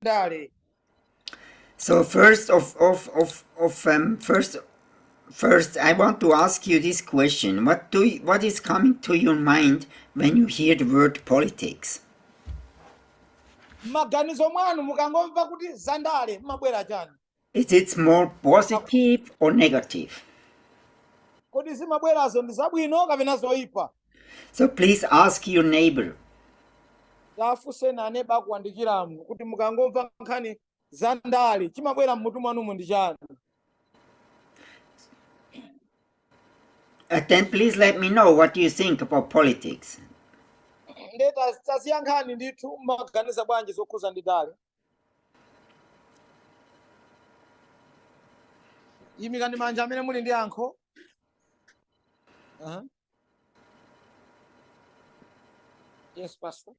ndale So first of of of of um, first first I want to ask you this question. What do you, what is coming to your mind when you hear the word politics? maganizo mwanu mukangomva kuti zandale mmabwera chani Is it more positive or negative? kodi zimabwerazo ndi zabwino kapena zoyipa So please ask your neighbor. tafunseni aneba akuyandikiraniwo kuti mukangomva nkhani za ndale chimabwera mmutu mwanumu ndi chani Uh, then please let me know what you think about politics. nde taziyankhani ndithu mmaganiza bwanji zokhuza ndi ndale yimikani manja amene muli ndi yankho Aha. yes pastor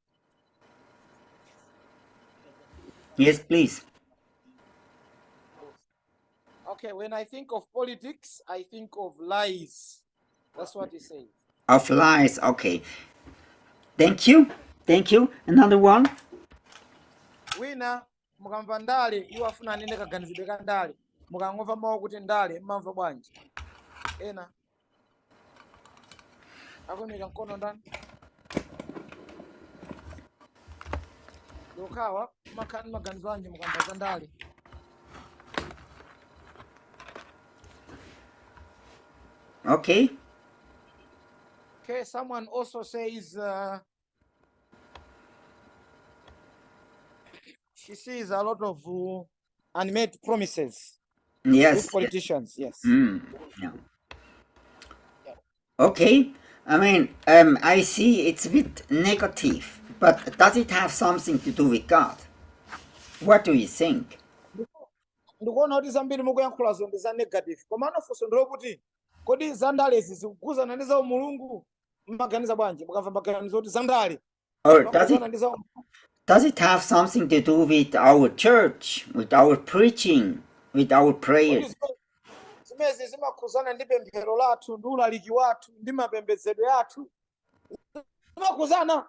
Yes, please. Okay, when I think of politics, I think of lies. That's what he says. Of lies, okay. Thank you. Thank you. Another one. Wina mukamva ndale iwo afuna anene kaganizidwe ka ndale mukangomva mawu kuti ndale mmamva bwanji ena akuimika mkono ndani yokhawa mumakhala ndi maganizo anji mukamva za ndale Okay. okay someone also says uh, She sees a lot of uh, unmade promises with Yes, yes. politicians. Yes. Mm, yeah. Okay. I mean, um, I see it's a bit negative, but does it have something to do with God? What do you think? ndikuona kuti zambiri mukuyankhulazo ndi za negative komano funso ndilokuti kodi zandalezi zikukhuzana ndi za umulungu mmaganiza bwanji mukamva maganizo oti zandale Or does it mamadziwana ndi za does it have something to do with our church, with our preaching, with our kodi prayers? zime- zimezi zimakhuzana ndi pemphero lathu ndi ulaliki wathu ndi mapembedzedwe athu zimakhuzana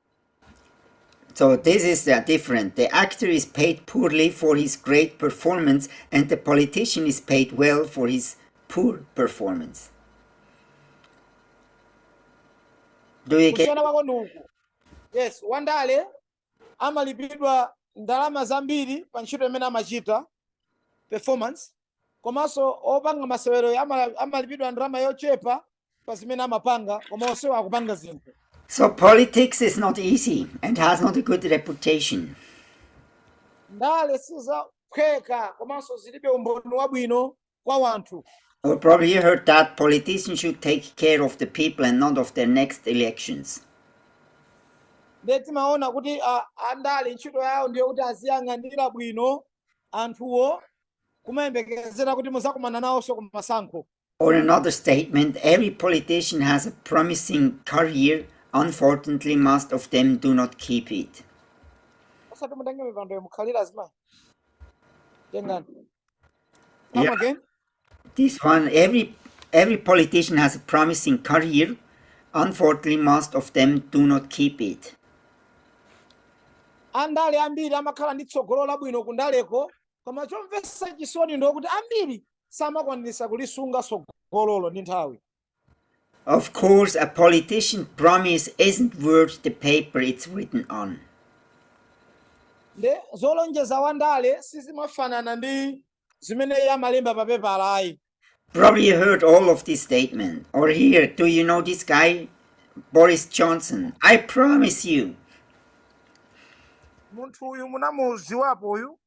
So this is uh, different. The actor is paid poorly for his great performance and the politician is paid well for his poor performance. Do you get Yes, Wandale amalipidwa ndalama zambiri pa ntchito imene amachita performance komanso opanga maseweroyo ama- amalipidwa ndalama yochepa pa zimene amapanga koma onsewo akupanga zinthu So politics is not easy and has not a good reputation. ndale sizophweka komanso zilibe umboni wabwino kwa wanthu Or probably you heard that politicians should take care of the people and not of their next elections. ndiye timaona kuti a- andale ntchito yawo ndiyo kuti aziyang'anira bwino anthuwo kumayembekezera kuti muzakumana nawonso ku masankho Or another statement every politician has a promising career, unfortunately, most of them do not keep it. osati mutenge mipando yomukhalira zimai tengani come Yeah. again This one, every every politician has a promising career. Unfortunately, most of them do not keep it. andale ambiri amakhala ndi tsogolo labwino kundaleko koma chomvetsa chisoni ndi kuti ambiri samakwanisa kulisunga tsogololo ndi nthawi Of course, a politician's promise isn't worth the paper it's written on. nde zolonjeza wandale sizimafanana ndi zimene iye amalemba pa pepala ayi Probably you heard all of this statement. Or here, do you know this guy? Boris Johnson. I promise you. munthu uyu munamuziwapo uyu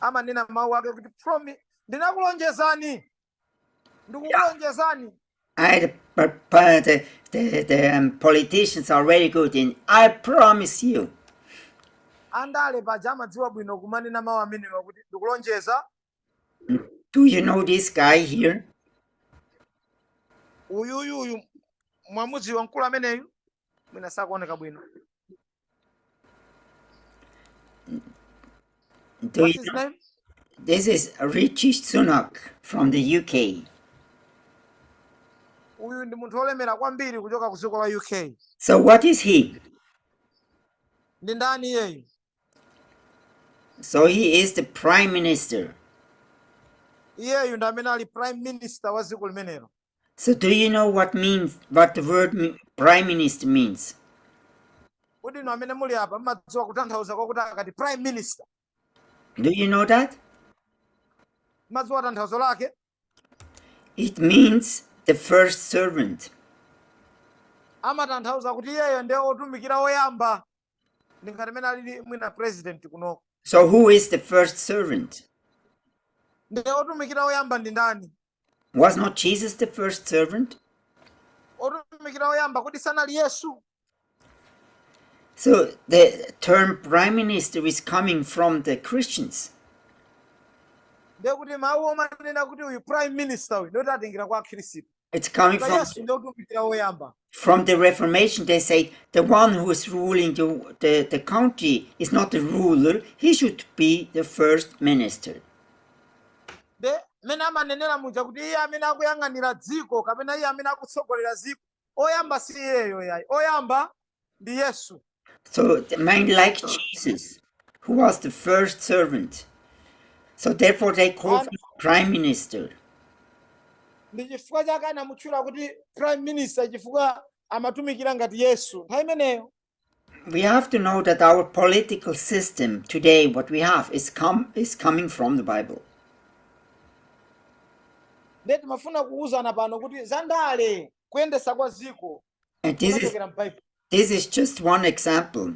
amanena mawu ake kuti promi ndinakulonjezani Ndikukulonjezani. I, but, but the, the, the um, politicians are very good in. I promise you. Andale paja amadziwa bwino kumanena mawu amenewa kuti ndikulonjeza. Do you know this guy here? Uyuyu uyu mwamudziwa mkulu ameneyu? mwina sakuoneka bwino Do What's you his know- name? This is Rishi Sunak from the UK. uyu ndi munthu wolemera kwambiri kuchoka ku dziko la uk So what is he? ndi ndani iyeyu So he is the prime minister. iyeyu ndi amene ali prime minister wa dziko limenelo So do you know what means what the word mi- prime minister means? kodi inu amene muli apa mmadziwa kutanthauza kwakuti akati prime minister Do you know that? mmadziwa tanthauzo lake It means the first servant. amatanthauza kuti iyeyo ndiye otumikira oyamba ndi ngati amene alili mwina president kunoko So who is the first servant? ndiye otumikira oyamba ndi ndani Was not Jesus the first servant? otumikira oyamba kodi sanali yesu So the term prime minister is coming from the Christians. ndiye kuti mawu omanena kuti uyu prime minister uyu ndoti atengera kwa akhristu It's coming ka from yesu ndi otumikira oyamba from the Reformation, they say the one who is ruling the, the, the country is not the ruler, he should be the first minister. nde mmene amanenera muja kuti iye amene akuyang'anira dziko kapena iye amene akutsogolera dziko oyamba si iyeyo yayi oyamba ndi yesu So like Jesus, who was the first servant. So therefore they call him prime minister. ndi chifukwa chake anamutchula kuti prime minister chifukwa amatumikira ngati yesu nthawi imeneyo we have to know that our political system today, what we have, is coming from the Bible. And this is, this is just one example.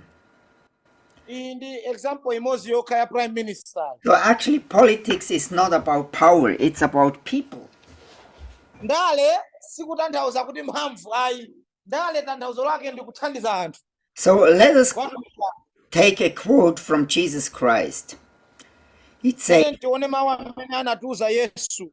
Iyi ndi example imodzi yokha ya prime minister So actually politics is not about power, it's about people. ndale sikutanthauza kuti mphamvu ayi ndale tanthauzo lake ndi kuthandiza anthu So let us take a quote from Jesus Christ. It says, tione mawu amene anatiuza yesu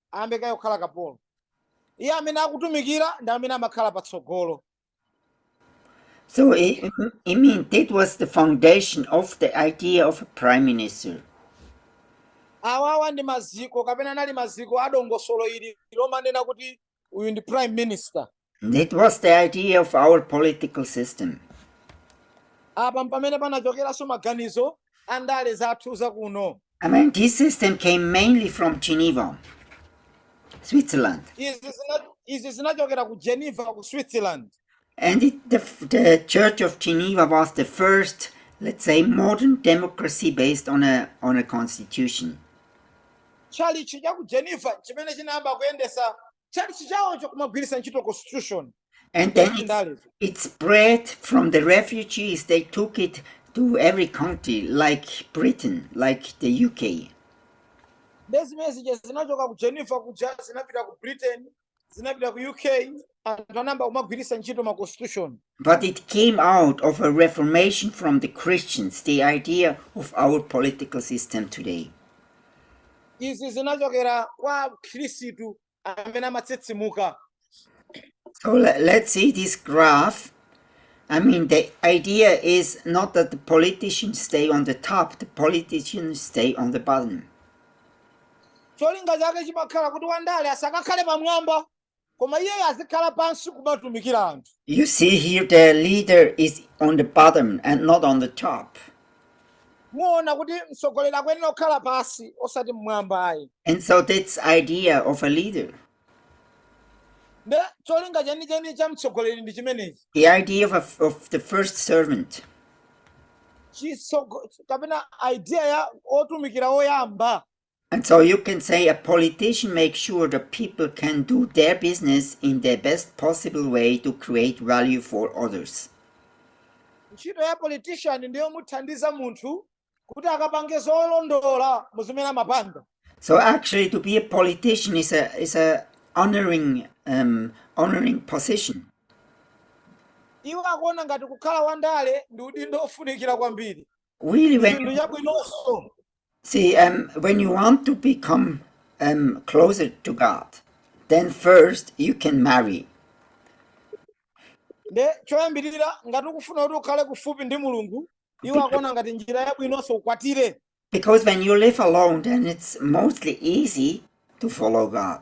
ayambe kaye kukhala kapolo iye amene akutumikira ndi amene amakhala patsogolo So, I, I mean, that was the foundation of the idea of a prime minister. awawa ndi maziko kapena anali maziko a dongosolo ili lomanena kuti uyu ndi prime minister That was the idea of our political system. apa mpamene panachokeranso maganizo a ndale zathu zakuno I mean, this system came mainly from Geneva, Switzerland. izi zina- izi zinachokera ku geneva ku switzerland And it, the, f- the Church of Geneva was the first, let's say, modern democracy based on a, on a constitution. tchalichi cha ku geneva chimene chinayamba kuyendesa tchalitchi chawocho kumagwiritsa ntchito constitution And then it spread from the refugees. They took it to every country, like Britain, like the UK. nde zimene zija zinachoka ku geneva kuja zinapita ku britain zinapita ku uk anthu anayamba kumagwiritsa ntchito ma constitution But it came out of a reformation from the Christians, the idea of our political system today. izi zinachokera kwa akhristu amene amatsitsimuka So le- let's see this graph. I mean, the idea is not that the politicians stay on the top, the politicians stay on the bottom. cholinga chake chimakhala kuti wandale asakakhale pamwamba koma iyeyo azikhala pansi kumatumikira anthu You see here the leader is on the bottom and not on the top. muona kuti mtsogoleri akuyenera kukhala pansi osati mmwamba ayi And so that's idea of a leader. nde cholinga chenicheni cha mtsogoleri ndi chimenechi The idea of, a, of the first servant. kapena idea ya otumikira oyamba And so you can say a politician makes sure the people can do their business in the best possible way to create value for others. ntchito ya politician ndiyo muthandiza munthu kuti akapange zolondola mu zimene amapanga So actually, to be a politician is a is a honoring um, honoring position. iwo akuona ngati kukhala wandale ndi udindo ofunikira kwambiri Really, chinthu when chabwinonso See, um, when you want to become um, closer to God, then first you can marry. nde choyambirira ngati ukufuna kuti ukhale kufupi ndi mulungu iwo akuona ngati njira yabwinonso ukwatire Because when you live alone, then it's mostly easy to follow God.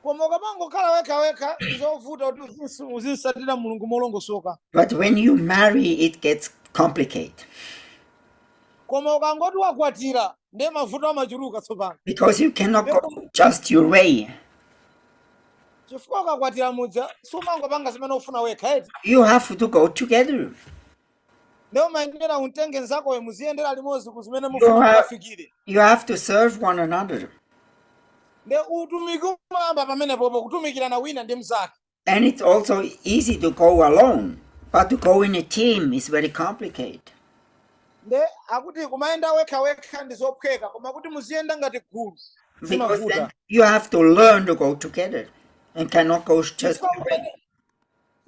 koma ukamangokhala wekha wekha zovuta kuti uzinsu- uzinsatira mulungu molongosoka But when you marry, it gets complicated koma ukangoti wakwatira ndiye mavuto amachuluka tsopano because you cannot go just your way. chifukwa ukakwatira muja sumangopanga zimene ufuna wekha eti. You have to go together. nde umayenera umtenge nzakoyo muziyendera limodzi ku zimene You mufuna have, kufikira you have to serve one another. nde utumiki umayamba pamenepopo kutumikirana wina ndi mnzake And it's also easy to go alone, but to go in a team is very complicated. nde akuti kumayenda wekha wekha ndi zophweka koma kuti muziyenda ngati gulu Because then zimavuta you have to learn to go together and cannot go just Chifukwa your way. umene-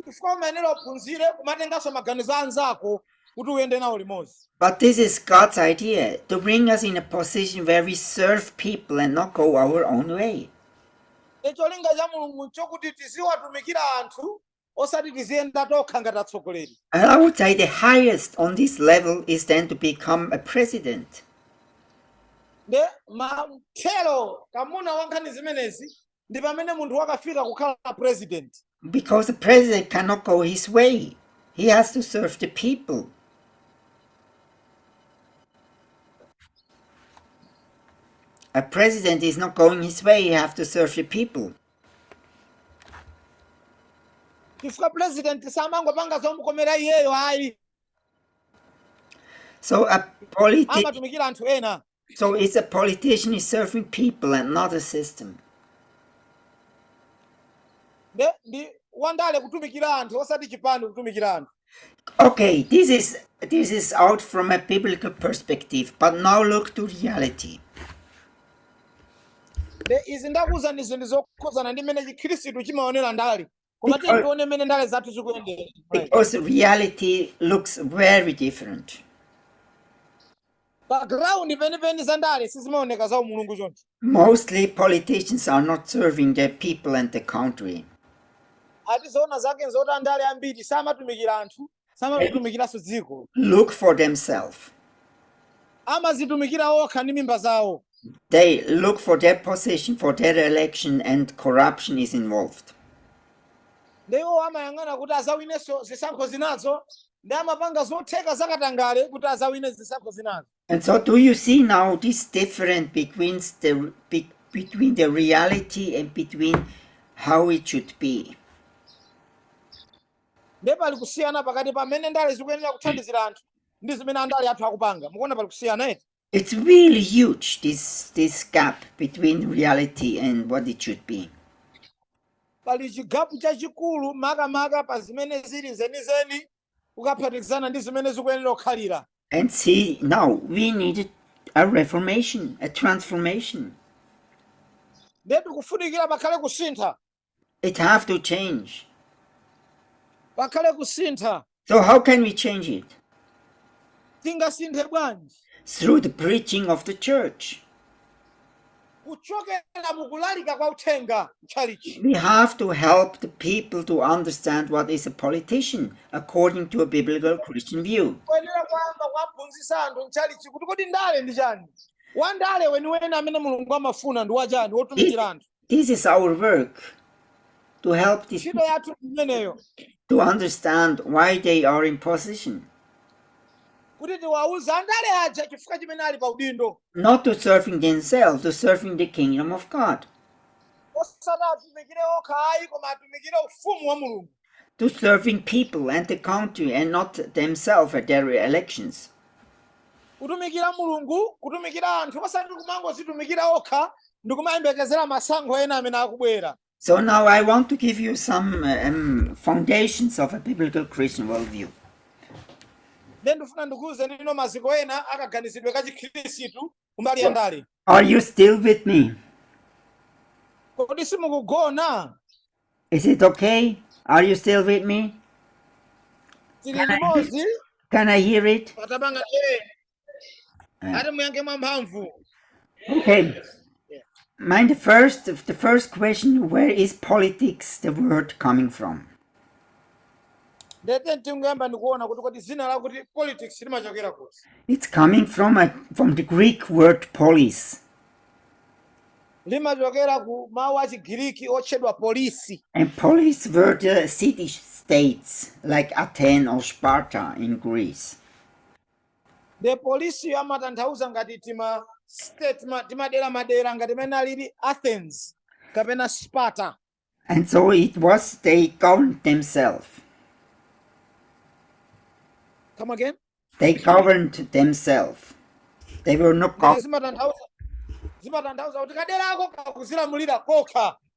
chifukwa umayenera uphunzire kumatenganso maganizo a anzako kuti uyende nawo limodzi But this is God's idea to bring us in a position where we serve people and not go our own way. E cholinga cha mulungu nchokuti tiziwatumikira anthu osati tiziyenda tokha ngati atsogoleri And I would say the highest on this level is then to become a president. nde matherokamuna a nkhani zimenezi ndi pamene munthu wakafika kukhala president because the president cannot go his way he has to serve the people a president is not going his way he has to serve the people chifukwa president samangopanga zomukomera iyeyo ayi so a amatumikira anthu ena So it's a politician is serving people and not a system. Nde ndi wandale kutumikira anthu osati chipani kutumikira anthu. Okay, this is this is out from a biblical perspective, but now look to reality. Nde izi ndakuuzani ndi zinthu zokhuzana ndi mmene chikhristu chimaonera ndale. koma tiye tione mmene ndale zathu zikuyendera Because reality looks very different. pa ground penipeni za ndale sizimaoneka za umulungu choncho Mostly politicians are not serving their people and the country. ati zoona zake nzoti andale ambiri samatumikira anthu samatumikiranso dziko look for themselves. amazitumikira okha ndi mimba zawo They look for their position, for their election, and corruption is involved. nde iwo amayang'ana kuti azawinenso zisankho zinazo ndi amapanga zotheka zakatangale kuti azawine zisankho zinazo And so, do you see now this difference between the be, between the reality and between how it should be? nde pali kusiyana pakati pa mmene ndale zikuyenera kuthandizira anthu ndi zimene andale athu akupanga mukuona pali kusiyana eti It's really huge, this, this gap between reality and what it should be. pali chigapu chachikulu makamaka pa zimene zili zenizeni tikaphatikizana ndi zimene zikuyenera kukhalira. and see now we need a reformation, a transformation. nde tikufunikira pakhale kusintha It have to change. pakhale kusintha So how can we change it? tingasinthe bwanji Through the preaching of the church. kuchokera mu kulalika kwa uthenga mtchalitchi We have to help the people to understand what is a politician according to a biblical Christian view. tikuyenera kuyamba kuwaphunzitsa anthu mtchalitchi kuti kodi ndale ndi chani wandale weniweni amene mulungu amafuna ndi wachani wotumikira anthu This is our work to help these people ntchito yathu imeneyo to understand why they are in position. kuti tiwauze andale aja chifukwa chimene ali pa udindo not to serving themselves, to serving the kingdom of God, osati atumikire okha ayi koma atumikire ufumu wa mulungu to serving people and the country and not themselves at their elections. kutumikira mulungu kutumikira anthu osati kumangozitumikira okha ndikumayembekezera masankho ena amene akubwera So now I want to give you some um, foundations of a biblical Christian worldview. Nde ndifuna ndikuuzeni tsopano maziko ena a kaganizidwe ka chikhristu kumbali ya ndale. Are you still with me? Kodi simukugona? Is it okay? Are you still with me? Can I, can I hear it? ati muyankhe mwamphamvu Okay. Mind the first, the first question: Where is politics, the word, coming from? nde tingoyamba ndikuona kuti kodi dzina lakuti politics limachokera kuti It's coming from a, from the Greek word polis, limachokera ku mawu a chigiriki otchedwa polisi and polis were the city states like Athens or Sparta in Greece. the polis yo amatanthauza ngati tima state ma- timadera madera ngati mene alili athens kapena sparta And so it was they governed themselves. come again They governed themselves. They were not Mene governed. zimatanthauza kuti kadera ako kakuzilamulira kokha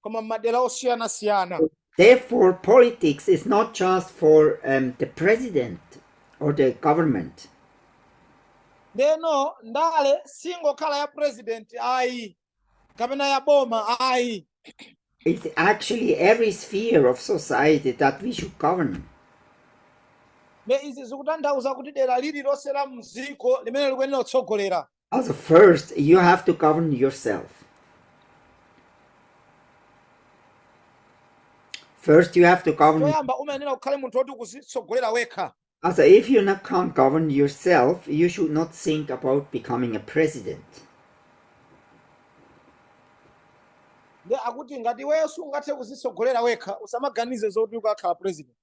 koma m'madera osiyanasiyana Therefore, politics is not just for um, the president or the government. ndeno ndale siingokhala ya president ayi kapena ya boma ayi It's actually every sphere of society that we should govern. nde izi zikutanthauza kuti dera lililonse la mdziko limene likuyenera kutsogolera Also, first, you have to govern yourself. First, you have to govern. choyamba umayenera ukhale munthu woti ukuzitsogolera wekha Also, if you can't govern yourself, you should not think about becoming a president. nde akuti ngati iweyo sungathe kuzitsogolera wekha usamaganize zoti ukakhala president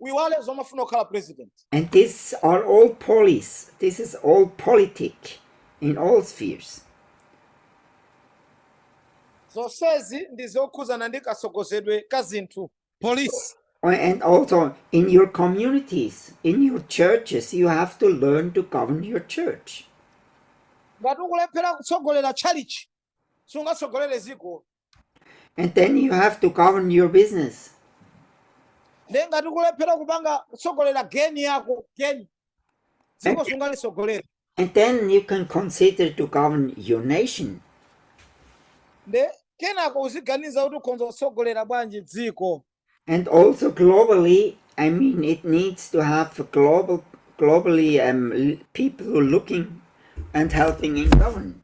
uyiwale zomafuna kukhala president And these are all polis. This is all politic in all spheres. zonsezi ndi zokhuzana ndi katsogozedwe ka zinthu polis Oh, And also in your communities, in your churches, you have to learn to govern your church. ngati ukulephera kutsogolera tchalichi sungatsogolere ziko And then you have to govern your business. nde ngati ukulephera kupanga kutsogolera geni yako geni dziko sungalitsogolera And then you can consider to govern your nation. nde kenako uziganiza kuti ukhonza kutsogolera bwanji dziko And also globally, I mean, it needs to have a global, globally um, people who are looking and helping in government.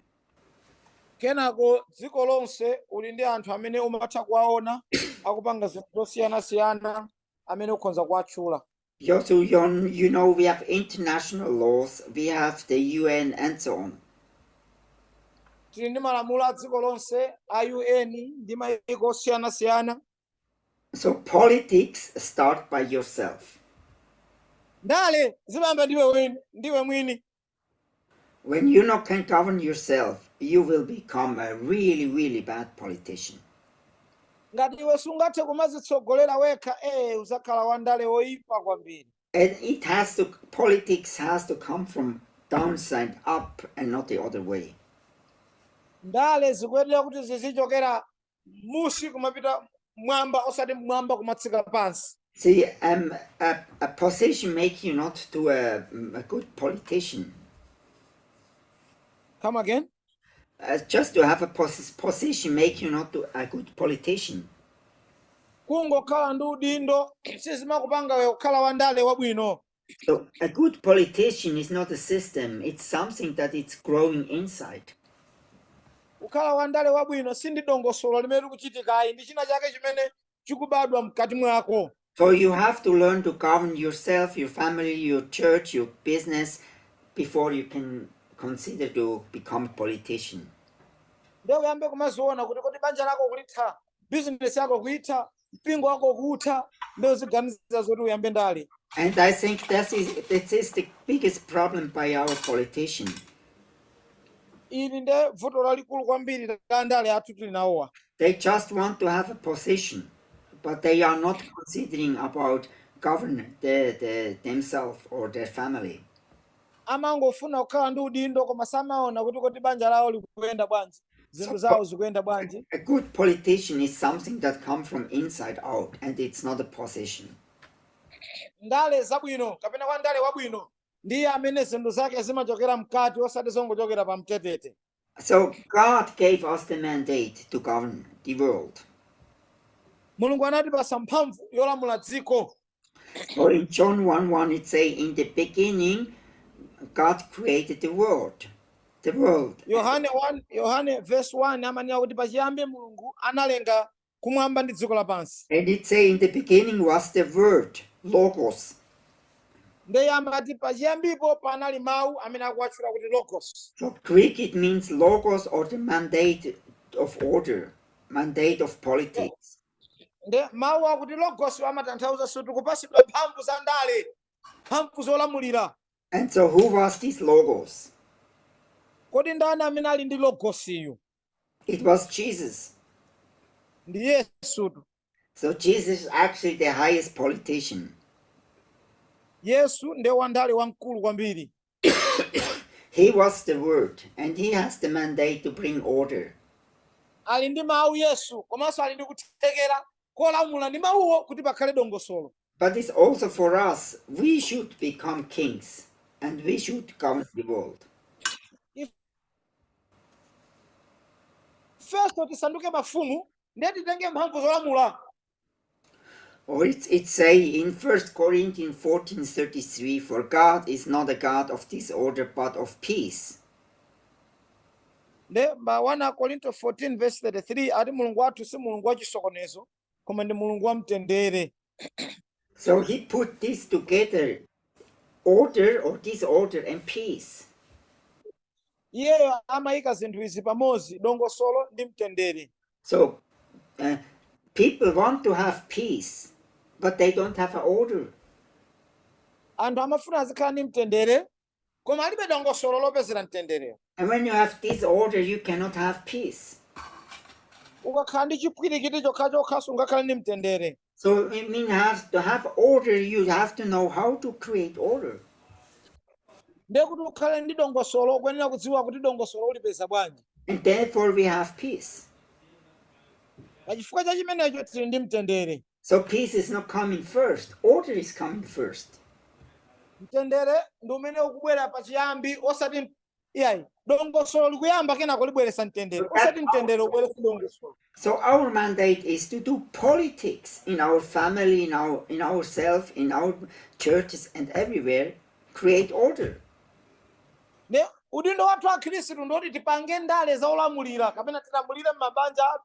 kenako dziko lonse uli ndi anthu amene umatha kuwaona akupanga zinthu zosiyanasiyana amene ukhonza kuwatchula Yeah, so you know, you know, we have international laws, we have the UN and so on. tili ndi malamulo a dziko lonse a un ndi mayiko osiyanasiyana So politics start by yourself. Ndale zimayamba ndiwe mwini, ndiwe mwini. When you not can govern yourself, you will become a really, really bad politician. Ngati iwe sungathe kumazitsogolera wekha, eh, uzakhala wandale woipa kwambiri. And it has to, politics has to come from downside up and not the other way. Ndale zikuyenera kuti zizichokera munsi kumapita mwamba osati mwamba kumatsika pansi See, um, a, a position make you not to a, mm, a good politician. come again Uh, just to have a pos position make you not to a good politician. kungokhala ndi udindo sizimakupanga iwe kukhala wandale wabwino So a good politician is not a system, it's something that it's growing inside. kukhala wandale wabwino si ndi dongosolo limene likuchitika ayi ndi china chake chimene chikubadwa mkati mwako So you have to learn to govern yourself, your family, your church, your business before you can consider to become a politician. ndiye uyambe kumaziona kuti kodi banja lako kulitha bizinesi yako kuitha mpingo wako kuutha ndiye uziganiza zoti uyambe ndale And I think that is, that is the biggest problem by our politician. ili nde vuto lalikulu kwambiri la andale athu tili nawowa They just want to have a position, but they are not considering about govern the, the, themselves or their family. amangofuna kukhala ndi udindo koma samaona kuti kodi banja lawo likuyenda bwanji zinthu zawo zikuyenda bwanji So, a good politician is something that comes from inside out, and it's not a position. ndale zabwino kapena kwa ndale wabwino ndiye amene zinthu zake zimachokera mkati osati zongochokera pa mtetete So God gave us the mandate to govern the world. mulungu anatipasa mphamvu yolamula dziko Or in John 1 1, it say, In the beginning, God created the world. The world. yohane 1 yohane verse 1 amanena kuti pachiyambi mulungu analenga kumwamba ndi dziko lapansi. And it say, in the beginning was the word, logos. Ndiye amati pachiyambipo panali mawu amene akuwatchula kuti logos. From Greek it means logos or the mandate of order, mandate of politics. Ndiye mawu akuti logos amatanthauzanso kuti kupatsidwa mphamvu za ndale, mphamvu zolamulira. And so who was this logos? Kodi ndani amene ali ndi logosiyu? It was Jesus. ndi yesutu So Jesus is actually the highest politician. yesu ndiye wandale wamkulu kwambiri He was the word, and he has the mandate to bring order. ali ndi mawu yesu komanso ali ndi kuthekera kolamula ndi mawuwo kuti pakhale dongosolo. But it's also for us, we should become kings and we should govern the world. Ifenso tisanduke mafumu ndiye titenge mphamvu zolamula. Or it say in 1 Corinthians 14:33, for God is not a God of disorder but of peace. Nde pa 1 Akorinto 14 verse 33 ati Mulungu wathu si Mulungu wa chisokonezo koma ndi Mulungu wa mtendere. So he put this together, order or disorder and peace. Iyeyo amayika zinthu izi pamodzi, dongosolo ndi mtendere. So uh, people want to have peace, but they don't have an order. Anthu amafuna azikhala ndi mtendere Koma alibe dongosolo lopezera mtenderewo. And when you have disorder, you cannot have peace. Ukakhala ndi chipwirikiti chokhachokha sungakhale ndi mtendere. So it means to have order, you have to know how to create order. Ndiye kuti ukhale ndi dongosolo ukuyenera kudziwa kuti dongosolo ulipeza bwanji. And therefore we have peace. Pa chifukwa cha chimenecho tili ndi mtendere. So peace is not coming first, order is coming first. mtendere ndi umene ukubwera pachiyambi osati m- iyayi dongosolo likuyamba kenako libweretsa mtendere osati mtendere ubweretsa dongosolo So our mandate is to do politics in our family, in our in ourselves, in our churches and everywhere, create order. nde udindo wathu akhristu ndoti tipange ndale za ulamuliro kapena tilamulire m'mabanja athu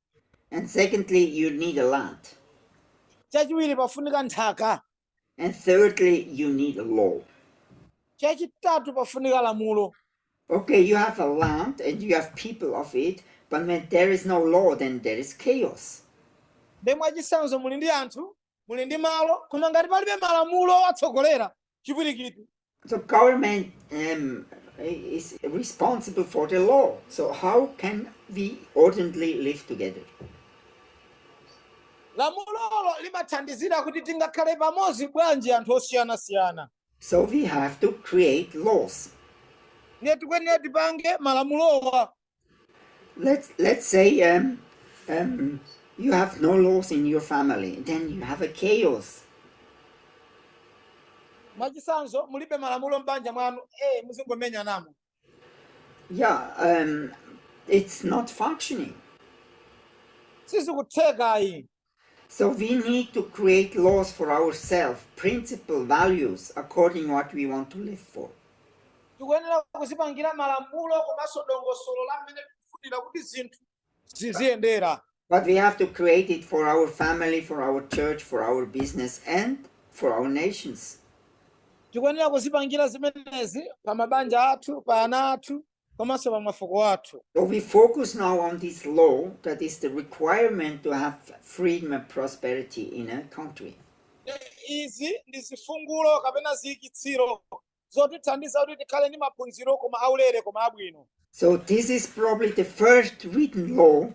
And secondly, you need a land. chachiwiri pafunika nthaka And thirdly, you need a law. chachitatu pafunika lamulo Okay, you have a land and you have people of it, but when there is no law, then there is chaos. nde mwachisanzo muli ndi anthu muli ndi malo koma ngati palibe malamulo owatsogolera chipwirikiti so government um, is responsible for the law so how can we ordinarily live together lamulolo limathandizira kuti tingakhale pamodzi bwanji anthu osiyanasiyana so we have to create laws ndiye tikuyenera tipange malamulowa Let's let's say um, um, you have no laws in your family, then you have a chaos. mwachisanzo mulibe malamulo m'banja mwanu eh muzingomenya namo Yeah, um, it's not functioning. sizikutheka ayi So we need to create laws for ourselves, principles, values according what we want to live for. tikuyenera kudzipangira malamulo komanso dongosolo la mmene tikufunira kuti zinthu ziziyendera But we have to create it for our family, for our church, for our business, and for our nations. tikuyenera kudzipangira zimenezi pa mabanja athu pa ana athu komanso pa mafuko athu. But we focus now on this law that is the requirement to have freedom and prosperity in a country. Izi ndi zifungulo kapena ziyikitsiro zotithandiza kuti tikhale ndi maphunziro koma aulere koma abwino. So this is probably the first written law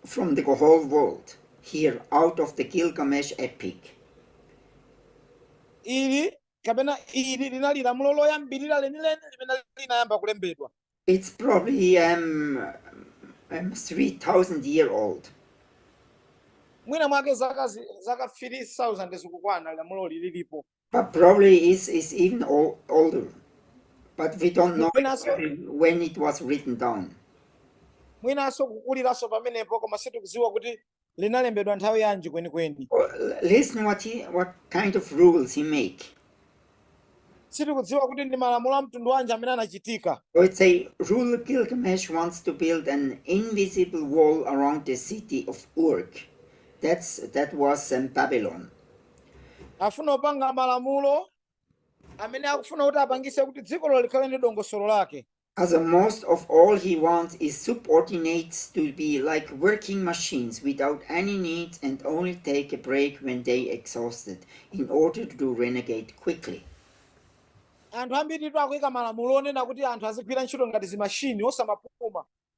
from the whole world here out of the Gilgamesh epic. Ili kapena ili linali lamulo loyambirira lenileni limene linayamba kulembedwa It's probably um, um, 3,000 year old. mwina mwake zaka zi- zaka 3000 zikukwana lamulo ili lilipo But probably is is even o- older. But we don't know Mwinanso- exactly when it was written down. mwinanso kukuliranso pamenepo koma sitikudziwa kuti linalembedwa nthawi yanji kwenikweni Or l- listen what he, what kind of rules he make. sitikudziwa kuti ndi malamulo a mtundu wanji amene anachitika So it's a ruler Gilgamesh wants to build an invisible wall around the city of Uruk. That's that was um, Babylon. afuna kupanga malamulo amene akufuna kuti apangise kuti dzikolo likhale ndi dongosolo lake as most of all he wants his subordinates to be like working machines without any needs and only take a break when they exhausted in order to regenerate quickly. anthu ambiritu akuyika malamulo onena kuti anthu azigwira ntchito ngati zimashini osamapuma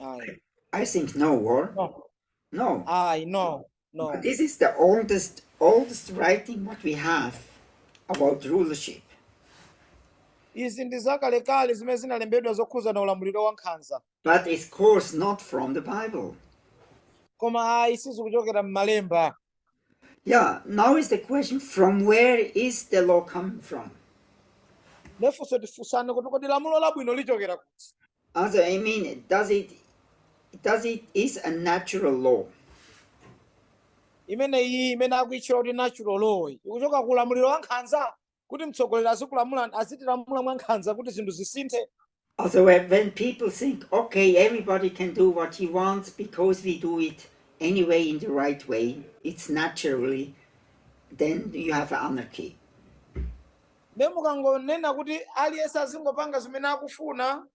I. I think no, or? No. No. I no no. But this is the oldest oldest writing what we have about rulership. Izi ndi zakalekale zimene zinalembedwa zokhuza na ulamuliro wa nkhanza. But it's of course not from the Bible. Koma ayi sizikuchokera m'malemba. Yeah, now is the question from where is the law coming from? nde funso tifunsane, kuti kodi lamulo labwino lichokera kuti Also, I mean, does it, does it is a natural law? imeneyi imene akuitchula kuti natural law iyi, ikuchoka ku ulamuliro wa nkhanza kuti mtsogoleri azikulamula azitilamula mwankhanza kuti zinthu zisinthe Also, when when people think, okay, everybody can do what he wants because we do it anyway in the right way, it's naturally, then you have anarchy. nde mukangonena kuti aliyense azingopanga zimene akufuna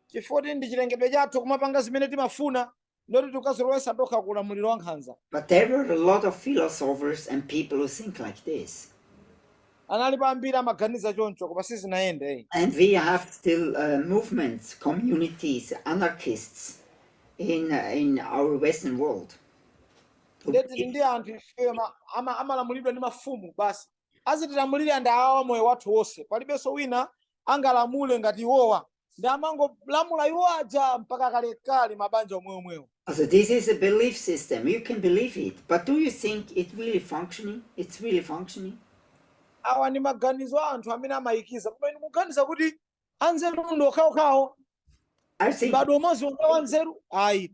chifukwa kuti ndi chilengedwe chathu kumapanga zimene timafuna nde kuti tikazilowetsa tokha ku ulamuliro wankhanza But there were a lot of philosophers and people who think like this. analipo ambiri amaganiza choncho koma sizinayende And we have still uh, movements, communities, anarchists in, uh, in our Western world. who nde tili believe- ndi anthu ifeyo ma- ama- amalamulidwa ndi mafumu basi azitilamulire ndi awawa moyo wathu wonse palibenso wina angalamule ngati iwowa ndi amangolamula iwo aja mpaka kalekale mabanja omweomwewo So this is a belief system. You can believe it, but do you think it really functioning? It's really functioning. awa ndi maganizo a anthu amene amayikiza koma inu muganiza kuti anzeru ndi okhaokhawo I think mbado umodzi wa anzeru ayi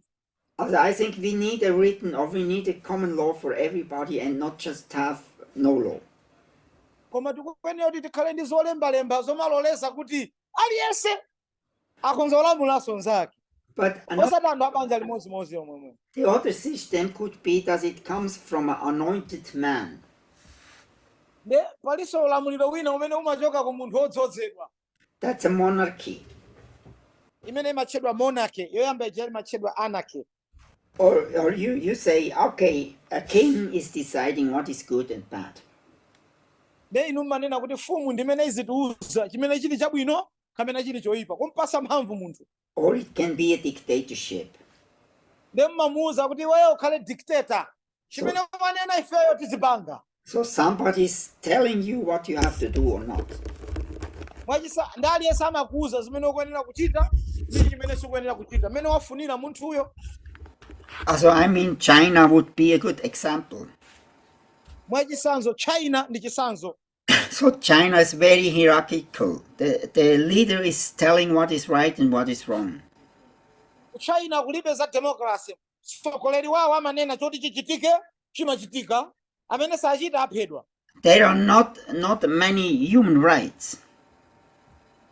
I think we need a written or we need a common law for everybody and not just have no law. koma tikuyenera kuti tikhale ndi zolembalemba zomaloleza kuti aliyense akhonza kulamulanso nzake But another, osati anthu a banja limodzimodzi omwewo the other system could be that it comes from an anointed man. nde palinso ulamuliro wina umene umachoka ku munthu wodzozedwa That's a monarchy. imene imatchedwa monarchy yoyamba ija imatchedwa anarchy Or, or you, you say, okay, a king is deciding what is good and bad. nde inu mumanena kuti mfumu ndimene izitiuza chimene chili chabwino kapena chili choyipa kumpasa mphamvu munthu Or it can be a dictatorship. nde mumamuuza kuti iweyo ukhale dictator chimene wanena ifeyo tizipanga So somebody's telling you what you have to do or not. mwachisa ndi aliyense amakuuza zimene ukuyenera kuchita ndi chimene sukuyenera kuchita mmene wafunira munthuyo Also, I mean, China would be a good example. mwachitsanzo China ndi chitsanzo so China is very hierarchical. The, the leader is telling what is right and what is wrong. ku China kulibe za democracy. Mtsogoleri wawo amanena choti chichitike chimachitika amene sachita aphedwa. There are not many human rights.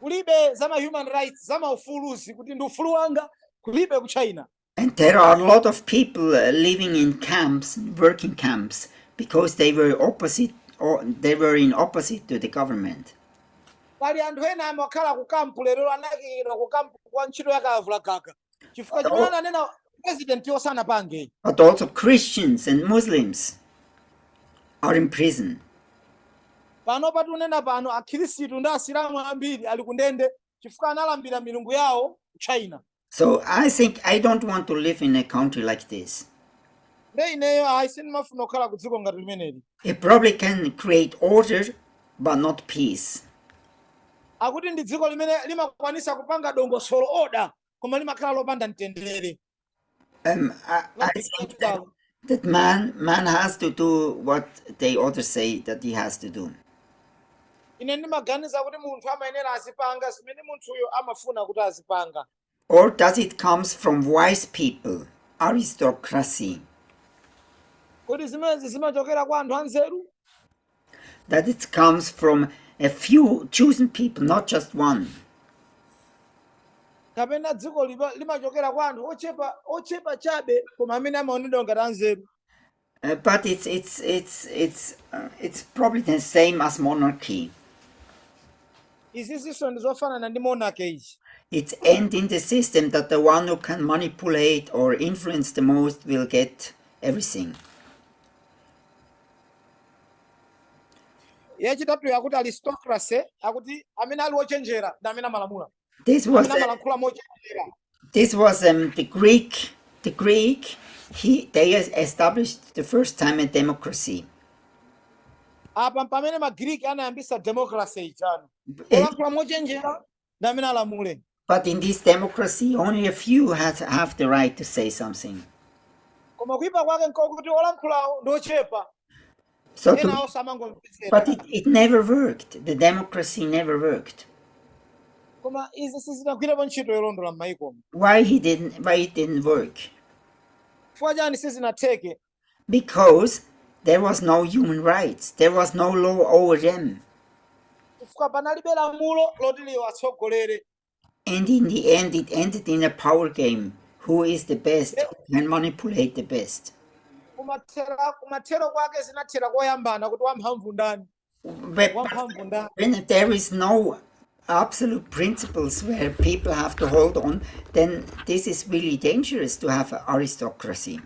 Kulibe za ma human rights za maufuluzi kuti ndi ufulu wanga kulibe ku China. And there are a lot of people uh, living in camps, working camps, because they were opposite or they were in opposite to the government. pali anthu ena amakhala ku kampu lero anakira ku kampu kwa ntchito yakalavulagaga chifukwa chimene ananena presidentiyo sanapange But also Christians and Muslims are in prison. pano pa tikunena pano akhristu ndi asilamu ambiri ali kundende chifukwa analambira milungu yawo ku china So I think I don't want to live in a country like this. nde ineyo ayi sindimafuna kukhala ku dziko ngati limeneli It probably can create order, but not peace. akuti ndi dziko limene limakwanisa kupanga dongosolo oda koma limakhala lopanda mtendere Um, I, I think that That man, man has to do what they others say that he has to do. ine ndimaganiza kuti munthu amayenera azipanga zimene munthuyo amafuna kuti azipanga Or does it come from wise people, aristocracy? kodi zimenezi zimachokera kwa anthu anzeru That it comes from a few chosen people, not just one. kapena dziko lipa- limachokera kwa anthu ochepa ochepa chabe koma amene amaonedwa ngati anzeru Uh, but it's it's it's it's uh, it's probably the same as monarchy. izizinso ndi zofanana ndi monarchy ichi It ends in the system that the one who can manipulate or influence the most will get everything. yachitatu yakuti aristocracy akuti amene ali ochenjera ndi amene amalamulira this was amene amalankhula mochenjera this was um, the greek the greek he they established the first time a democracy apa mpamene magiriki anayambisa democracy ijano olankhula mochenjera ndi amene alamule But in this democracy, only a few has, have the right to say something. koma kuyipa kwake nkokuti olankhulawo ndi ochepa So, enawo samangomvetsera but it, it never worked. The democracy never worked. koma izi sizinagwirepo ntchito yolondola m'mayikomo Why he didn't? Why it didn't work? chifukwa chani sizinatheke Because there was no human rights, there was no law over them. chifukwa panalibe lamulo loti liwatsogolere And in the end, it ended in a power game. Who is the best? Who can manipulate the best? kumathera kumathero kwake zinathera kuyambana kuti wamphamvu ndani when there is no absolute principles where people have to hold on, then this is really dangerous to have aristocracy.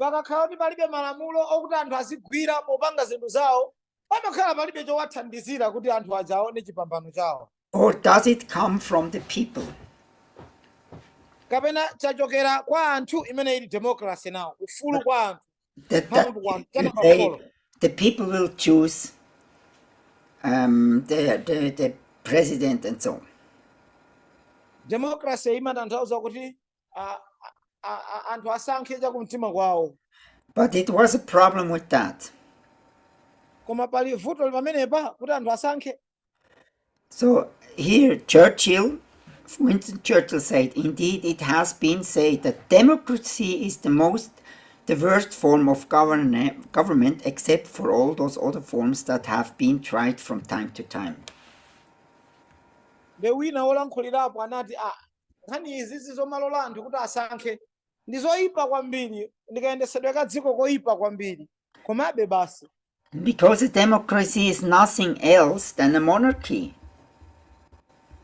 pakakhala kuti palibe malamulo okuti anthu azigwira popanga zinthu zawo pamakhala palibe chowathandizira kuti anthu aja aone chipambano chawo or does it come from the people kapena chachokera kwa anthu imene ili democracy ndiwo ufulu kwa anthu the, the, one, they, the people will choose um, the, the, the president and so on. Democracy imatanthauza kuti anthu asankhe cha kumtima kwawo. But it was a problem with that. Koma pali vuto pamenepa kuti anthu asankhe. So here Churchill, Winston Churchill said, indeed it has been said that democracy is the most the worst form of government except for all those other forms that have been tried from time to time. nde wina wolankhulirapo anati a nkhani izizi zomalola anthu kuti asankhe ndi zoyipa kwambiri ndi kayendetsedwe ka dziko koyipa kwambiri Komabe basi, Because a democracy is nothing else than a monarchy.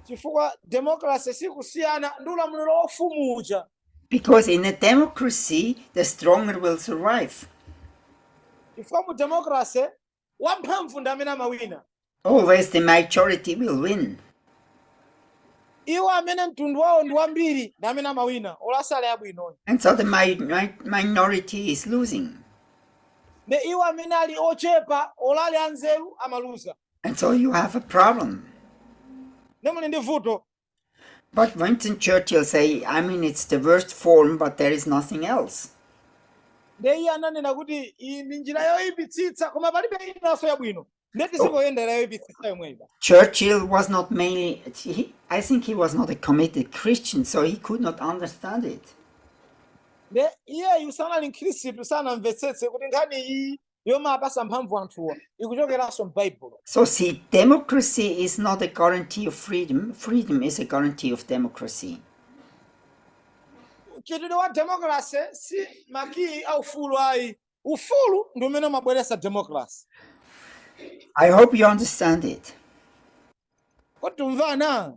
chifukwa democracy sikusiyana ndi ulamuliro wa ufumu uja. Because in a democracy, the stronger will survive. Chifukwa mu democracy wamphamvu ndi amene amawina. Always the majority will win. iwo amene mtundu wawo ndi wambiri ndi amene amawina olo asali abwino And so the mi- mi- minority is losing. ndi iwo amene ali ochepa olo ali anzeru amaluza And so you have a problem. ndiye muli ndi vuto But Winston Churchill say, I mean, it's the worst form, but there is nothing else. ndiye iye ananena kuti iyi ndi njira yoyipitsitsa koma palibe inanso yabwino ndiye tizingoyendera yoyipitsitsa yomweyo basi Churchill was not mainly, he, I think he was not a committed Christian, so he could not understand it. ndiye iyeyu sanali mkhristu sanamvetsetse kuti nkhani iyi yomapasa mphamvu anthuwa ikuchokeranso m'baibulo So see, democracy is not a guarantee of freedom. Freedom is a guarantee of democracy. mchitidwe wa democracy si makiyi a ufulu ayi ufulu ndi umene umabweretsa democracy I hope you understand it. kodi tikumvana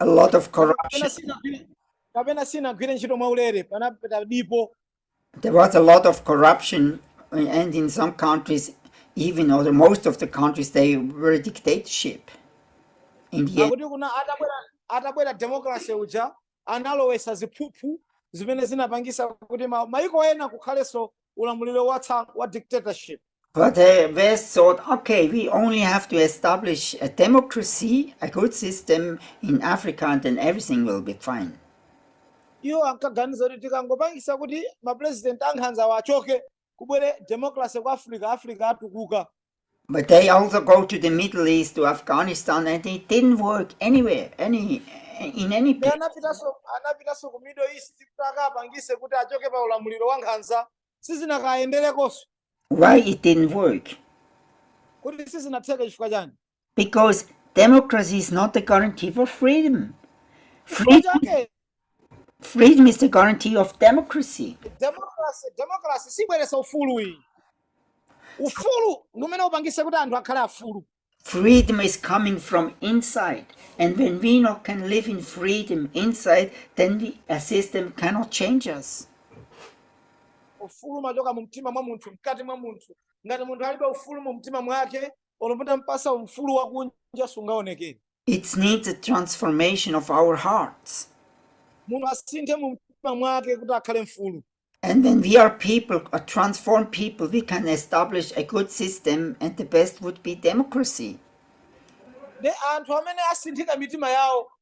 a lot of kapena corruption. sinagwire kapena sinagwire ntchito mwaulere panapita dipo There was a lot of corruption, uh, and in some countries, even or the most of the countries, they were a dictatorship. In the end, akuti kunja atabwera atabwera democracy uja analowesa ziphuphu zimene zinapangisa kuti ma, maiko ena kukhalenso ulamuliro wa tsa- wa dictatorship But the West thought, okay, we only have to establish a democracy, a good system in Africa, and then everything will be fine. iwo ankaganiza kuti tikangopangisa kuti mapresident ankhanzawa achoke kubwere democracy ku africa africa atukuka But they also go to the Middle East, to Afghanistan, and it didn't work anywhere, any in any Ndi place. anapitanso anapitanso ku middle east kuti akapangise kuti achoke pa ulamuliro wa nkhanza sizinakayenderekonso Why it didn't work? kuti sizinatheke chifukwa chani Because democracy is not a guarantee for freedom. Freedom, okay. freedom is the guarantee of democracy. democracy democracy sibweresa ufulu ayi ufulu ndi umene upangise kuti anthu akhale afulu Freedom is coming from inside. And when we not can live in freedom inside, then we, a system cannot change us. ufulu umachoka mu mtima mwa munthu mkati mwa munthu ngati munthu alibe ufulu mu mtima mwake olo mutampatsa ufulu wakunja sungaonekere It needs a transformation of our hearts. munthu asinthe mu mtima mwake kuti akhale mfulu And when we are people, a transformed people, we can establish a good system, and the best would be democracy. ndi anthu amene asinthika mitima yawo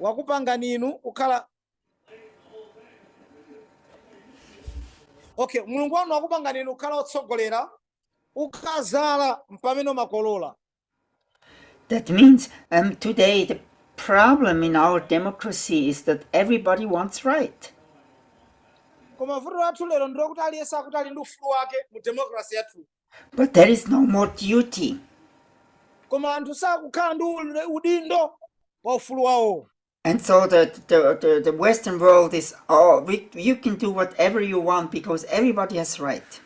wakupangani inu kukhala okay mulungu wanu wakupangani inu kukhala otsogolera ukadzala mpamene umakolola That means um, today the problem in our democracy is that everybody wants right. koma vuto lathu lero ndi lakuti aliyense akuti ali ndi ufulu wake mu democracy yathu But there is no more duty. koma anthu sakukhala ndi ule- udindo pa ufulu wawo And so the, the, the, the Western world is, oh, we, you can do whatever you want because everybody has right.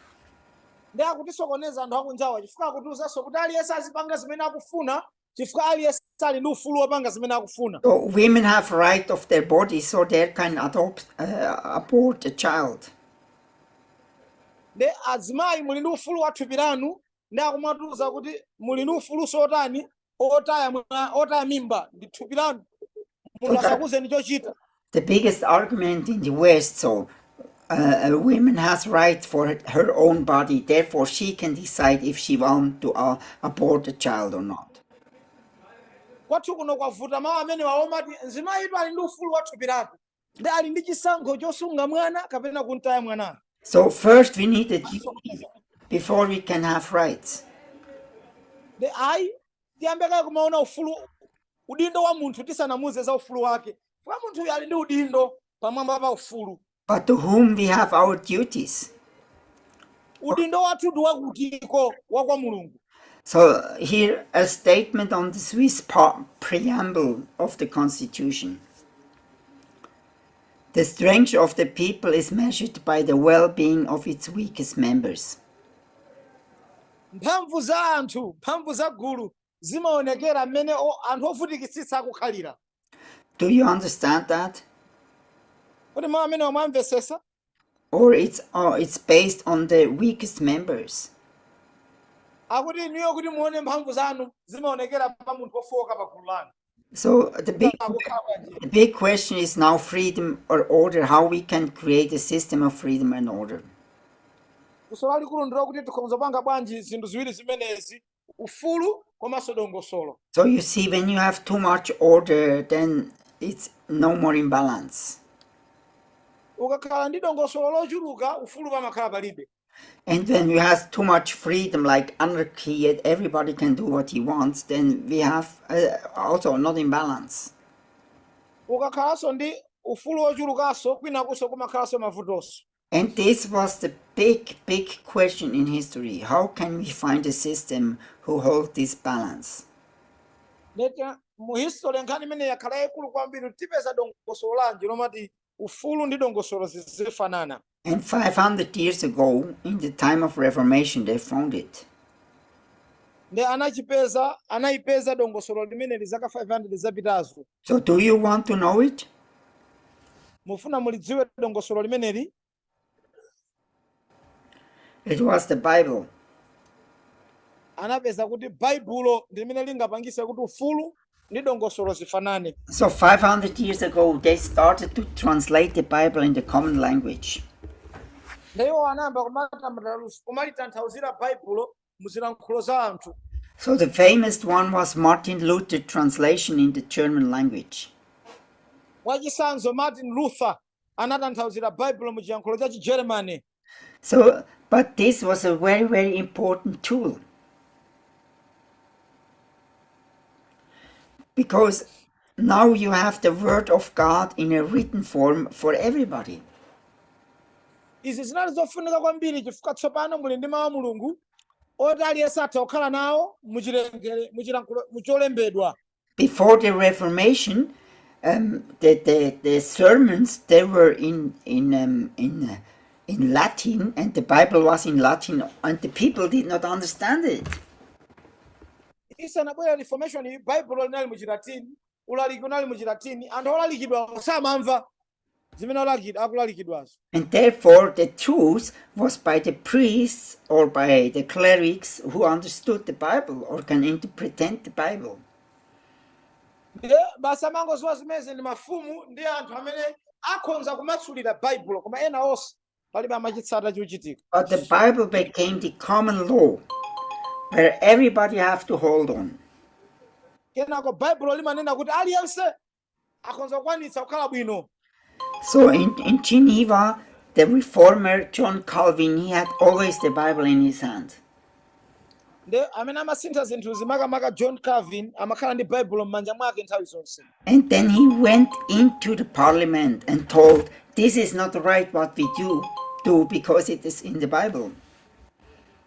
nde akutisokoneza anthu akunjawa chifukwa akutiuzanso kuti aliyense azipanga zimene akufuna chifukwa aliyense ali ndi ufulu wopanga zimene akufuna So women have right of their body, so they can adopt, uh, abort a child. nde azimayi muli ndi ufulu wa thupi lanu nde akumatiuza kuti muli ndi ufulunso otani otaya mwa- otaya mimba ndi thupi lanu munthu Put up asakuuzeni chochita the biggest argument in the West. So, uh, a woman has right for her- her own body. Therefore, she can decide if she wants to uh, abort a child or not. kwathu kuno kwavuta mawu amenewa omati mzimayitu ali ndi ufulu wa thupi lake ndi ali ndi chisankho chosunga mwana kapena kumtaya mwanayo So first, we need a duty before we can have rights. ndi ayi tiyambe kaye kumaona ufulu udindo wa munthu tisanamuuze za ufulu wake kuti munthuyu ali ndi udindo pamwamba pa ufulu but to whom we have our duties. udindo wathu ndi wakutiko wa kwa mulungu So here a statement on the Swiss preamble of the constitution. The strength of the people is measured by the well-being of its weakest members. Mphamvu za anthu, mphamvu za gulu, zimaonekera mmene o, anthu ovutikitsitsa akukhalira. Do you understand that? Kodi mawu amenewa mwamvetsetsa? Or it's, or it's based on the weakest members. Akuti inuyo kuti muone mphamvu zanu zimaonekera pa munthu wofowoka pa gulu lanu. So the big, the big question is now freedom or order, how we can create a system of freedom and order. funso lalikulu ndi lakuti tikhoza kupanga bwanji zinthu ziwiri zimenezi ufulu komanso dongosolo So you see, when you have too much order, then it's no more in balance. ukakhala ndi dongosolo lochuluka ufulu pamakhala palibe And when we have too much freedom, like anarchy, and everybody can do what he wants, then we have uh, also not in balance. ukakhalanso ndi ufulu wochulukanso kwinakunso kumakhalanso mavutonso And this was the big, big question in history. How can we find a system who holds this balance? nde mu history nkhani imene yakhala yayikulu kwambiri tipeza dongosolo lanji lomati Ufulu ndi dongosolo zizifanana. And 500 years ago, in the time of Reformation, they found it. Nde anachipeza, anaipeza dongosolo limeneli zaka 500 zapitazo. So do you want to know it? Mufuna mulidziwe dongosolo limeneli? It was the Bible. anapeza kuti baibulo ndi limene lingapangise kuti ufulu ndi dongosolo zifanane So 500 years ago, they started to translate the Bible in the common language. nde iwo anayamba kumatamatalusa- kumalitanthauzira baibulo mu zilankhulo za anthu So the famous one was Martin Luther translation in the German language. mwachisanzo martin luther anatanthauzira baibulo mu chilankhulo cha chigermany So, but this was a very, very important tool. Because now you have the Word of God in a written form for everybody. izi zinali zofunika kwambiri chifukwa tsopano muli ndi mawu a mulungu oti aliyense atha kukhala nawo muchilengere muchilankhulo mucholembedwa before the Reformation, um, the, the, the sermons, they were in, in, um, in, uh, in Latin and the Bible was in Latin and the people did not understand it. isanabwera reformation baibulo linali mu chilatini ulaliki unali mu chilatini anthu olalikidwa samamva zimene alakid- akulalikidwazo And therefore, the truth was by the priests or by the clerics who understood the Bible or can interpret the Bible. ndiye basi amene amangoziwa zimezi ndi mafumu ndi anthu amene akhonza kumasulira baibulo koma ena onse palibe amachitsata chochitika But the Bible became the common law where everybody have to hold on. kenako baibulo limanena kuti aliyense akhonza kukwanitsa kukhala bwino So in, in Geneva, the reformer John Calvin, he had always the Bible in his hand. nde amene amasintha zinthu zimakamaka john calvin amakhala ndi baibulo m'manja mwake nthawi zonse And then he went into the parliament and told, This is not right what we do, do because it is in the Bible.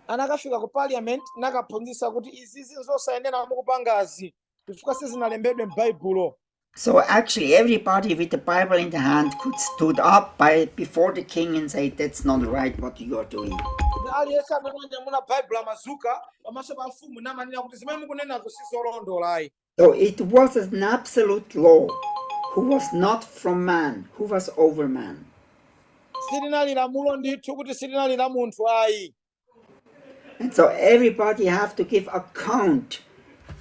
anakafika ku parliament nakaphunzitsa kuti izizi nzosayenera mukupangazi chifukwa sizinalembedwe m'baibulo So actually, everybody with the Bible in the hand could stood up before the king and say, "That's not right what you are doing." Ndi aliyense amene wanyamula baibulo amadzuka pamaso pa mfumu n'kumanena kuti zimene mukunenazo sizolondola ayi So it was an absolute law, who was not from man, who was over man. Ili linali lamulo ndithu kuti silinali la munthu ayi And so everybody have to give account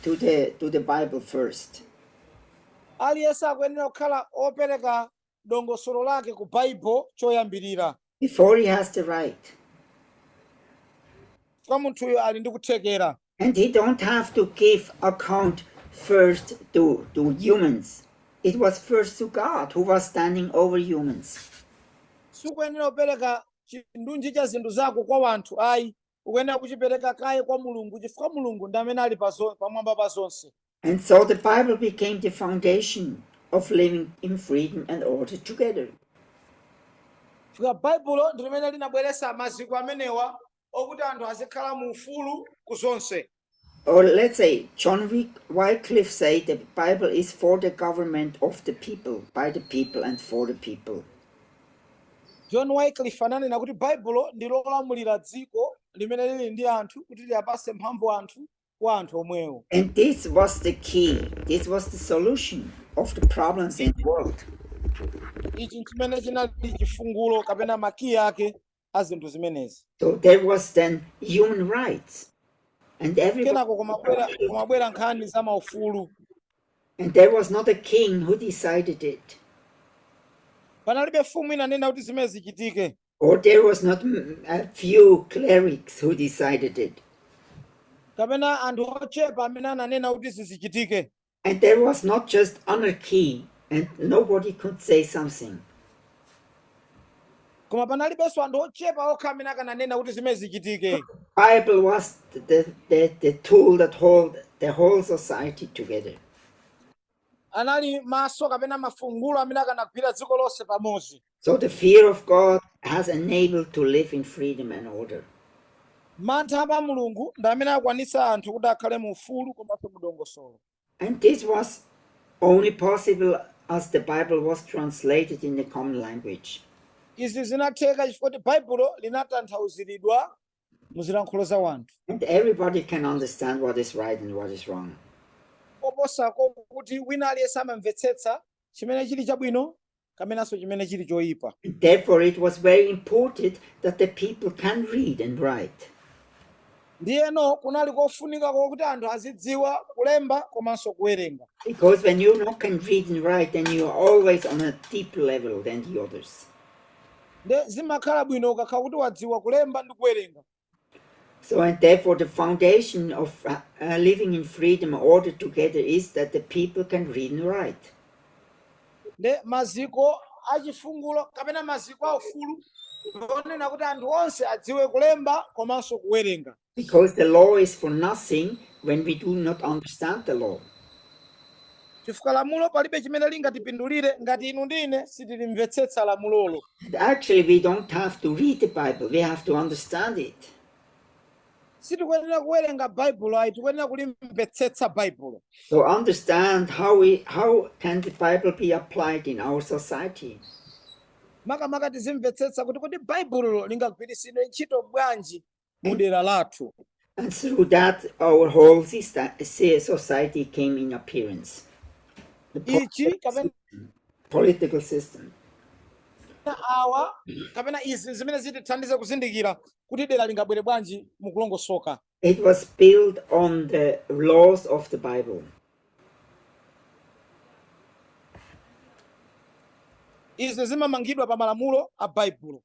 to the, to the Bible first. aliyense akuyenera kukhala opereka dongosolo lake ku baibulo choyambirira Before he has the right. kuti munthuyo ali ndi kuthekera And he don't have to give account first to, to humans. It was first to God who was standing over humans. sukuyenera kupereka chindunji cha zinthu zako kwa wanthu ayi ukuyenera kuchipereka kaye kwa mulungu chifukwa mulungu ndi amene ali pazo- pamwamba pa zonse And so the Bible became the foundation of living in freedom and order together. Chifukwa baibulo ndi limene linabweretsa maziko amenewa okuti anthu azikhala mu ufulu ku zonse or let's say John Wycliffe said the Bible is for the government of the people, by the people and for the people. John Wycliffe ananena kuti Baibulo ndi lolamulira dziko limene lili ndi anthu kuti liyapase mphamvu anthu kwa anthu omwewo. And this was the key. This was the solution of the problems in the world. Ichi chimene chinali chifungulo kapena makiyi ake a zinthu zimenezi So there was then human rights, and everybody, kenako kumabwera nkhani za maufulu and there was not a king who decided it, panalibe mfumu inanena kuti zimene zichitike or there was not mm, a few clerics who decided it. kapena anthu ochepa amene ananena kuti zizichitike And there was not just anarchy and nobody could say something. koma panalibenso anthu ochepa okha amene akananena kuti zimene zichitike Bible was the, the, the, the tool that hold the whole society together. anali maso kapena mafungulo amene akanagwira dziko lonse pamodzi So the fear of God has enabled to live in freedom and order. mantha a pa mulungu ndi amene akwanitsa anthu kuti akhale mu ufulu komanso mu dongosolo And this was only possible as the Bible was translated in the common language. izi zinatheka chifukwa choti baibulo linatanthauziridwa mu zilankhulo za wanthu And everybody can understand what is right and what is wrong. koposako kuti wina aliyense amamvetsetsa chimene chili chabwino kapenanso chimene chili choyipa Therefore, it was very important that the people can read and write. ndiyeno kunali kofunika kwakuti anthu azidziwa kulemba komanso kuwerenga Because when you not can read and write, then you are always on a deeper level than the others. nde zimakhala bwino ukakhala kuti wadziwa kulemba ndi kuwerenga So, and therefore, the foundation of uh, uh, living in freedom and order together is that the people can read and write. nde maziko achifungulo kapena maziko a ufulu ndionena kuti anthu onse adziwe kulemba komanso kuwerenga Because the law is for nothing when we do not understand the law. chifukwa lamulo palibe chimene lingatipindulire ngati inu ndi ine sitilimvetsetsa lamulolo Actually, we don't have to read the Bible, we have to understand it. sitikuyenera kuwerenga baibulo ayi tikuyenera kulimvetsetsa baibulo To understand how we how can the Bible be applied in our society. makamaka tizimvetsetsa kuti kodi baibulo lingagwiritsidwe ntchito bwanji mu dera lathu And through that, our whole sister, si- society came in appearance. The po- ichi kapena political system. awa kapena izi zimene zitithandize kuzindikira kuti dera lingabwere bwanji mukulongosoka It was built on the laws of the Bible. izi zimamangidwa pa malamulo a baibulo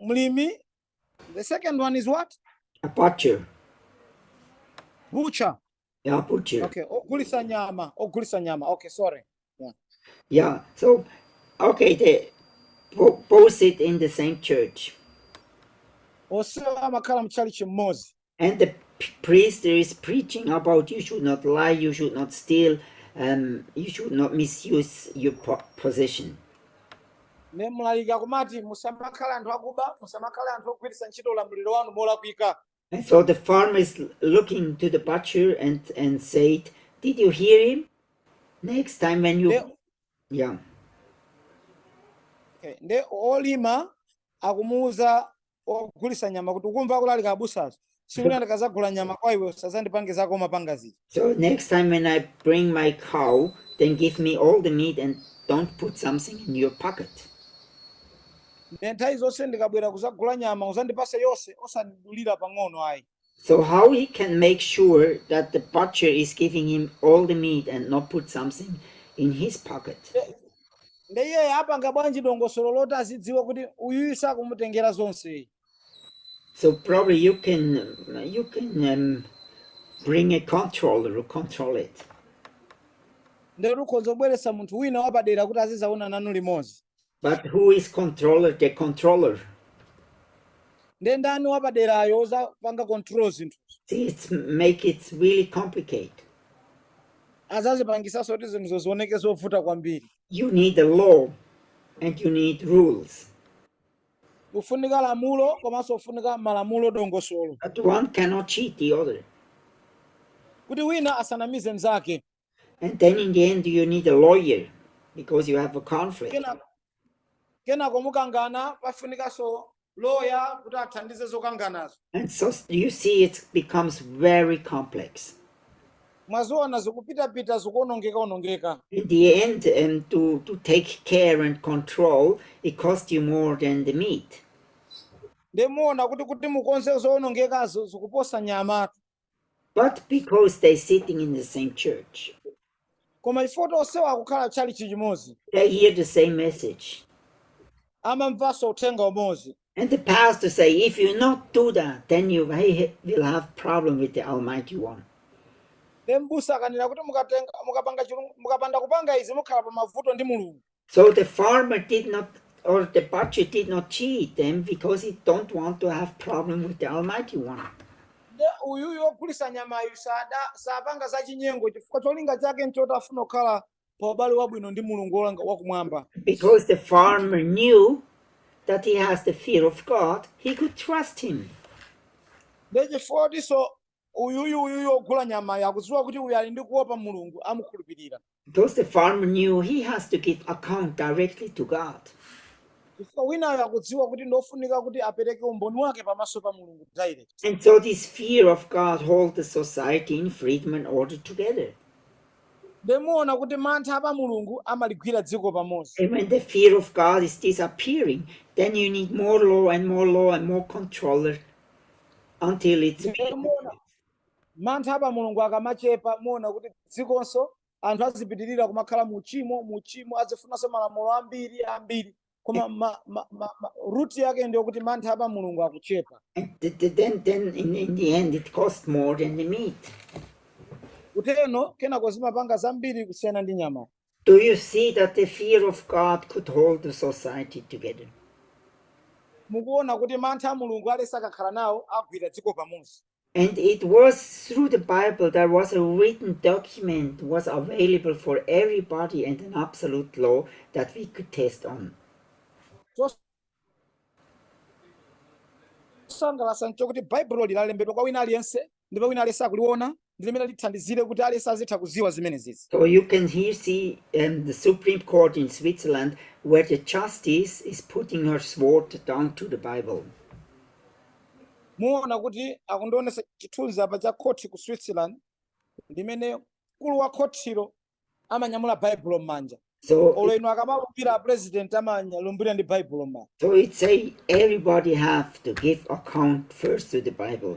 mlimi the second one is what a butcher butcher yeah butcher okay ogulisa nyama ogulisa nyama okay sorry yeah yeah so okay the both sit in the same church onse amakhala mu chalichi mmodzi And the priest is preaching about you should not lie, you should not steal, um, you should not misuse your po- position. ne mlaliki akumati musamakhale anthu akuba musamakhale anthu ogwiritsa ntchito ulamuliro wanu molakwika And so the farmer is l- looking to the butcher and, and said, Did you hear him? Next time when you. nde Yeah. okay, nde olima akumuwuza ogulisa nyama kuti ukumva kulalika abusazo tsiku lina ndikazagula nyama kwa iwe usazandipange zako umapanga zija So next time when I bring my cow, then give me all the meat and don't put something in your pocket. ne nthawi zonse ndikabwera kuzagula nyama uzandipase yonse osandidulira pang'ono ayi So how he can make sure that the butcher is giving him all the meat and not put something in his pocket? nde iye apanga bwanji dongosolo loti azidziwa kuti uyuyu sakumutengera zonse So probably you can you can um, bring a controller to control it. nde tikhoza kubweretsa munthu wina wapadera kuti azizaona nanu limodzi But who is controller, the controller? nde ndani wapaderayo uzapanga control zinthu See, make it really complicated. azazipangisanso kuti zinthuzo zioneke zovuta kwambiri You need a law and you need rules. kufunika lamulo komanso kufunika malamulo dongosolo But one cannot cheat the other. kuti wina asanamize mnzake And then in the end, you need a lawyer because you have a conflict. kenako mukangana pafunikanso loya kuti athandize zokanganazo And so s- you see, it becomes very complex. mwaziona zikupitapita zikuonongeka onongeka In the end, um, to, to take care and control, it costs you more than the meat. ndemuona kuti kuti mukonze zoonongekazo zikuposa nyamatu But because they're sitting in the same church, koma chifukwa kuti onsewo akukhala tchalitchi chimodzi they hear the same message. amamvanso uthenga umodzi And the pastor say, if you not do that, then you will have problem with the Almighty One. then mbusa akanena kuti mukatenga mukapanga chilung- mukapanda kupanga izi mukhala pa mavuto ndi mulungu So the farmer did not, or the butcher did not cheat them because he don't want to have problem with the Almighty One. nde uyuyu wogulisa nyamayu sapanga za chinyengo chifukwa cholinga chake nchoti afuna kukhala pa ubale wabwino ndi mulungu wakumwamba Because the farmer knew that he has the fear of God, he could trust him. nde chifukwa chotinso uyuyu uyuyu wogula nyamayu akudziwa kuti uyu ali ndi kuopa mulungu amukhulupirira Because the farmer knew he has to give account directly to God. chifukwa winayo akudziwa kuti ndofunika kuti apereke umboni wake pamaso pa mulungu direct And so this fear of God holds the society in freedom and order together. ndemuona kuti mantha pa mulungu amaligwira dziko pamodzi And when the fear of God is disappearing, then you need more law and more law and more controller until it's Mantha pa Mulungu akamachepa, muona kuti dzikonso anthu azipitirira kumakhala mu uchimo, mu uchimo azifunanso malamulo ambiri ambiri, koma ma, ma, ma, ma, root yake ndiyo kuti mantha pa Mulungu akuchepa. And th- th- then, then in, in the end, it costs more than the meat. Kuteno kenako zimapanga zambiri kusiyana ndi nyama. Do you see that the fear of God could hold the society together? Mukuona kuti mantha a Mulungu aliyense akakhala nawo agwira dziko pamodzi. And it was through the Bible there was a written document was available for everybody and an absolute law that we could test on. chosangalatsa nchokuti baibulo linalembedwa kwa wina aliyense ndipo wina aliyense akuliona ndi limene lithandizire kuti aliyense azitha kuziwa zimenezizi so you can here see um, the supreme court in switzerland where the justice is putting her sword down to the bible muona kuti akundionesa chithunzi apa cha khothi ku switzerland limene mkulu wa khothilo amanyamula baibulo m'manja So, olo inu akamalumbira a president amalumbira ndi baibulo m'manja so it say everybody have to give account first to the Bible.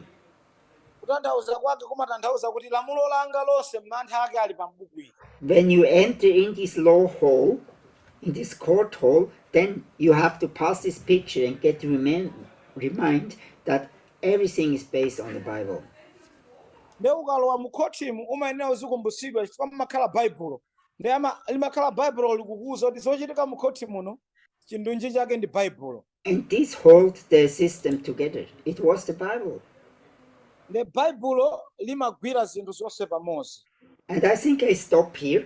kutanthauza kwake kumatanthauza kuti lamulo langa lonse mantha ake ali pambuku ili When you enter in this law hall, in this court hall, then you have to pass this picture and get remind, remind that everything is based on the Bible. nde ukalowa mu khothimu umayenera uzikumbutsidwa chifukwa mumakhala baibulo nde ama- limakhala baibulo likukuwuza kuti zochitika mu khothi muno chindunji chake ndi baibulo And this hold the system together. It was the Bible. nde baibulo limagwira zinthu zonse pamodzi And I think I stop here.